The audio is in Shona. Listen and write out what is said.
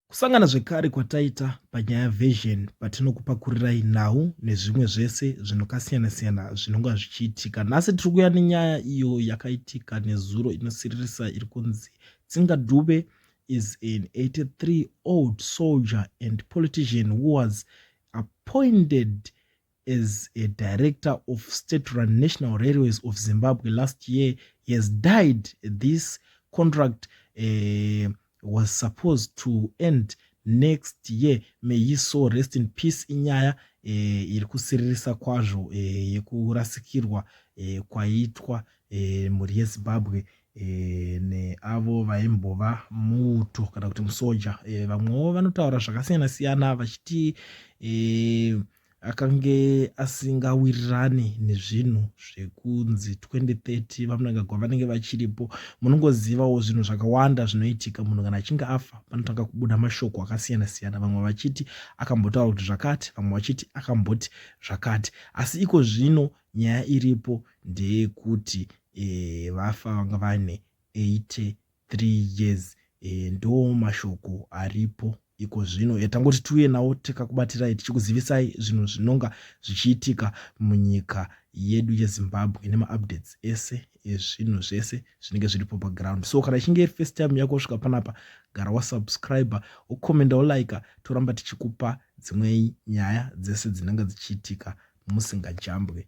Kusangana zvekare kwataita panyaya version patinokupakurirai nhau nezvimwe zvese zvinokasiyana siyana zvinonga zvichiitika. Nhasi tiri kuya nenyaya iyo yakaitika nezuro inosiririsa iri kunzi Tsinga Dube is an 83 old soldier and politician who was appointed as a director of state run national railways of zimbabwe last year he has died this contract uh, was supposed to end next year may he so rest in peace inyaya eh, iri kusiririsa kwazvo eh, yekurasikirwa eh, kwaitwa eh, mhuri yezimbabwe eh, neavo vaimbova muto kana kuti musoja eh, vamwewo vanotaura zvakasiyana siyana vachiti eh, akange asingawirirani nezvinhu zvekunzi 2030 vamunangagwa vanenge vachiripo munongozivawo zvinhu zvakawanda zvinoitika munhu kana achinge afa panotanga kubuda mashoko akasiyana siyana vamwe vachiti akambotaura kuti zvakati vamwe vachiti akamboti zvakati asi iko zvino nyaya iripo ndeyekuti e, vafa vanga vane 80 three years e, ndo mashoko aripo iko zvino e, tangoti tiuye nawo tikakubatirai tichikuzivisai zvinhu zvinonga zvichiitika munyika yedu yezimbabwe nemaupdates ese ezvinhu zvese zvinenge zviripo paground so kana ichinge iri first time yako svika panapa gara wasubscribe ukomenda ulike toramba tichikupa dzimwe nyaya dzese dzinenge dzichiitika musingajambwe